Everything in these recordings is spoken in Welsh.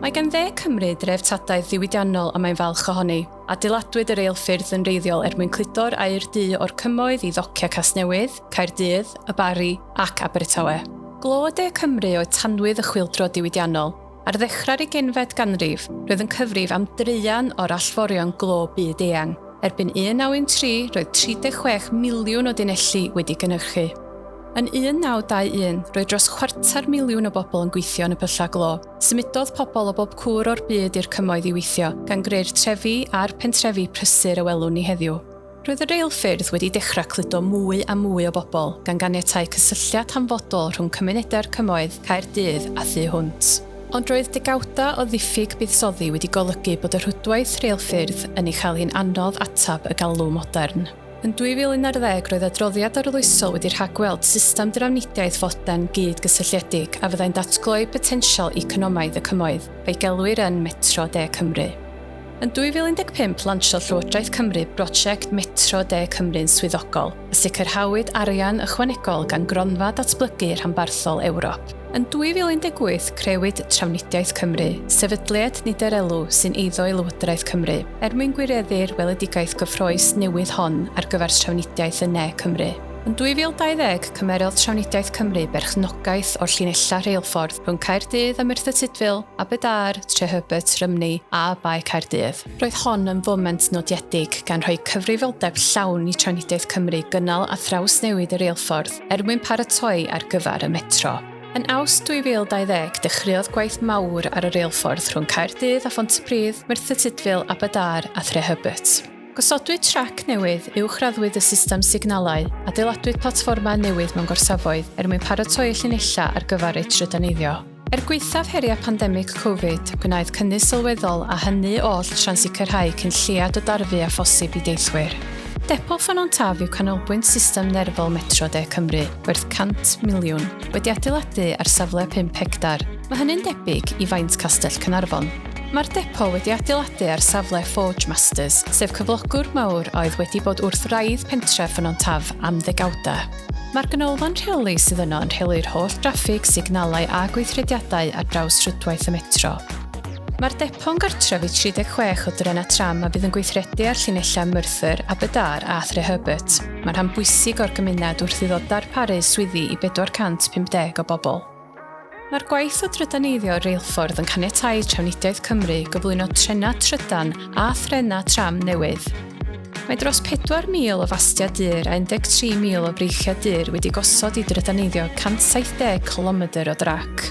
Mae gan Dde Cymru dreftadaeth ddiwydiannol a mae'n falch ohoni. Adeiladwyd y reilffyrdd yn wreiddiol er mwyn cludo'r aer du o'r Cymoedd i ddociau Casnewydd, Caerdydd, y Barri ac Abertawe. Glo De Cymru oedd tanwydd y chwyldro diwydiannol. Ar ddechrau'r ugeinfed ganrif, roedd yn cyfrif am draean o'r allforion glo byd eang. Erbyn 1913, roedd 36 miliwn o dunelli wedi gynhyrchu. Yn 1921, roedd dros chwarter miliwn o bobl yn gweithio yn y pyllau glo. Symudodd pobl o bob cwr o'r byd i'r Cymoedd i weithio, gan greu'r trefi a'r pentrefi prysur y welwn ni heddiw. Roedd y reilffyrdd wedi dechrau cludo mwy a mwy o bobl, gan ganiatáu cysylltiad hanfodol rhwng cymunedau'r Cymoedd, Caerdydd a thu hwnt. Ond roedd degawdau o ddiffyg buddsoddi wedi golygu bod y rhwydwaith reilffyrdd yn ei chael hi'n anodd ateb y galw modern. Yn 2011 roedd adroddiad arloesol wedi rhagweld system drafnidiaeth fodern gyd-gysylltiedig a fyddai'n datgloi potensial economaidd y Cymoedd, a'i gelwir yn Metro De Cymru. Yn 2015 lansiodd Llywodraeth Cymru brosiect Metro De Cymru'n swyddogol, a sicrhawyd arian ychwanegol gan Gronfa Datblygu Rhanbarthol Ewrop. Yn 2018 crëwyd Trafnidiaeth Cymru, sefydliad nid-er-elw sy'n eiddo i Lywodraeth Cymru. Er mwyn gwireddu'r weledigaeth gyffrous newydd hon ar gyfer Trafnidiaeth yn Ne Cymru. Yn 2020, cymerodd Trafnidiaeth Cymru berchnogaeth o'r llinellau rheilffordd rhwng Caerdydd a Merthyr Tudful, Aberdâr, Trehubert, Rymney a Bae Caerdydd. Roedd hon yn foment nodiedig, gan rhoi cyfrifoldeb llawn i Trafnidiaeth Cymru gynnal a thrawsnewid y reilffordd er mwyn paratoi ar gyfer y Metro. Yn Awst 2020 dechreuodd gwaith mawr ar y reilffordd rhwng Caerdydd a Phontypridd, Merthyr Tudful, Aberdâr a Threhybert. Gosodwyd trac newydd, uwchraddwyd y system signalau, adeiladwyd platfformau newydd mewn gorsafoedd er mwyn paratoi y llinellau ar gyfer eu trydaneiddio. Er gwaethaf heriau pandemig Covid, gwnaed cynnydd sylweddol a hynny oll tra'n sicrhau cyn lleiad o darfu â phosib i deithwyr. Depot Ffynnon Taf yw canolbwynt system nerfol Metro De Cymru. werth 100 miliwn, wedi adeiladu ar safle 5 hectar. Mae hynny'n debyg i faint Castell Cynarfon. Mae'r depo wedi adeiladu ar safle Forge Masters, sef cyflogwr mawr a oedd wedi bod wrth wraidd pentref Ffynon Taf am ddegawdau. Mae'r ganolfan rheoli sydd yno yn rheoli'r holl draffig, signalau a gweithrediadau ar draws rhwydwaith y metro. Mae'r depo'n gartref i 36 o drenau tram a fydd yn gweithredu ar llinellau Merthyr, Aberdâr a Threherbert. Mae rhan bwysig o'r gymuned wrth iddo darparu swyddi i 450 o bobl. Mae'r gwaith o drydaneiddio reilffordd yn caniatáu Trafnidiaeth Cymru gyflwyno trenau trydan a threnau tram newydd. Mae dros 4,000 o fastiau dur a 13,000 o breichiau dur wedi gosod i drydaneiddio 170 cilomedr o drac.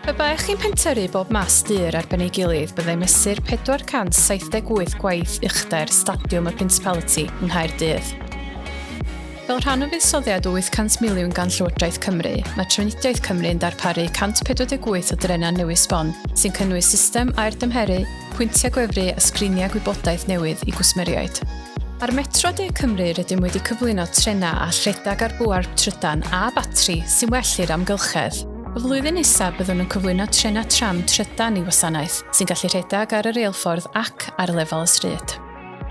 Pe baech chi'n pentyrru bob mas dur ar ben ei gilydd byddai mesur 478 gwaith uchder Stadiwm y Principality yng Nghaerdydd. Fel rhan o fuddsoddiad o 800 miliwn gan Llywodraeth Cymru, mae Trafnidiaeth Cymru yn darparu 148 o drenau newydd sbon, sy'n cynnwys system aer dymheru, pwyntiau gwefru a sgriniau gwybodaeth newydd i gwsmeriaid. Ar Metro De Cymru rydym wedi cyflwyno trenau a rhedeg ar bŵer trydan a batri sy'n well i'r amgylchedd. Y flwyddyn nesaf byddwn yn cyflwyno trenau tram trydan i wasanaeth sy'n gallu rhedeg ar y reilffordd ac ar lefel y stryd.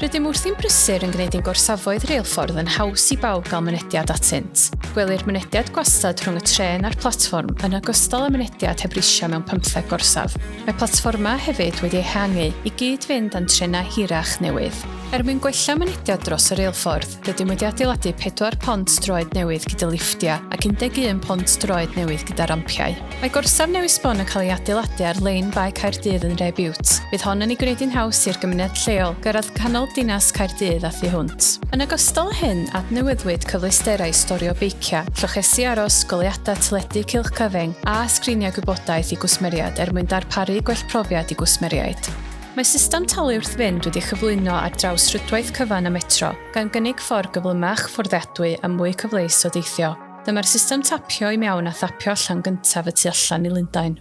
Rydym wrthi'n brysur yn gwneud ein gorsafoedd reilffordd yn haws i bawb gael mynediad atynt. Gwelir mynediad gwastad rhwng y tren a'r platfform yn ogystal â mynediad heb risiau mewn pymtheg gorsaf. Mae platfformau hefyd wedi ehangu i gyd-fynd â'n trenau hirach newydd. Er mwyn gwella mynediad dros y reilffordd, Rydym wedi adeiladu pedwar pont droed newydd gyda lifftiau ac 11 pont droed newydd gyda rampiau. Mae gorsaf newydd sbon yn cael ei adeiladu ar lein Bae Caerdydd yn Nhref Bute. Bydd hon yn ei gwneud hi'n haws i'r gymuned lleol gyrraedd canol dinas Caerdydd a thu hwnt. Yn ogystal â hyn, adnewyddwyd cyfleusterau storio beiciau, llochesi aros, goleuadau teledu cylch cyfyng, a sgriniau gwybodaeth i gwsmeriaid er mwyn darparu gwell profiad i gwsmeriaid. Mae system talu wrth fynd wedi'i chyflwyno ar draws rhwydwaith cyfan y Metro, gan gynnig ffordd gyflymach, fforddiadwy a mwy cyfleus o deithio. Dyma'r system tapio i mewn a thapio allan gyntaf y tu allan i Lundain.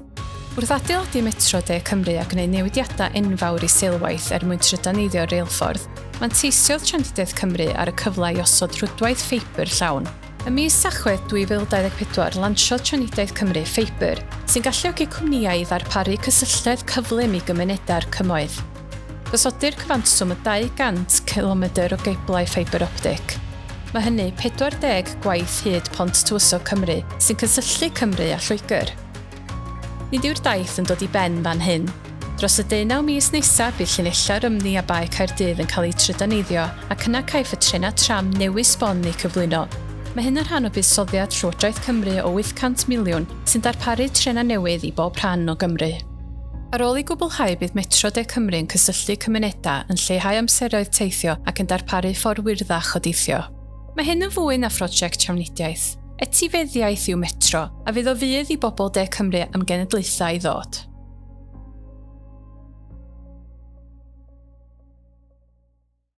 Wrth adeiladu Metro De Cymru a gwneud newidiadau enfawr i seilwaith er mwyn trydaneiddio'r reilffordd, manteisiodd Trafnidiaeth Cymru ar y cyfle i osod rhwydwaith ffeibr llawn, Ym mis Tachwedd 2024, lansiodd Trafnidiaeth Cymru ffeibr, sy'n galluogi cwmnïau i ddarparu cysylltedd cyflym i gymunedau'r Cymoedd. Gosodir cyfanswm o 200 cilomedr o geiblau ffeibr optig. Mae hynny 40 gwaith hyd Pont Tywysog Cymru, sy'n cysylltu Cymru a Lloegr. Nid yw'r daith yn dod i ben fan hyn. Dros y deunaw mis nesaf bydd llinellau'r Rymddu a Bae Caerdydd yn cael eu trydaneiddio ac yna caiff y trenau tram newydd sbon eu cyflwyno. Mae hyn yn rhan o buddsoddiad Llywodraeth Cymru o 800 miliwn sy'n darparu trenau newydd i bob rhan o Gymru. Ar ôl ei gwblhau bydd Metro De Cymru yn cysylltu cymunedau, yn lleihau amseroedd teithio ac yn darparu ffordd wyrddach o deithio. Mae hyn yn fwy na phrosiect trafnidiaeth. Etifeddiaeth yw Metro, a fydd o fudd i bobl de Cymru am genedlaethau i ddod.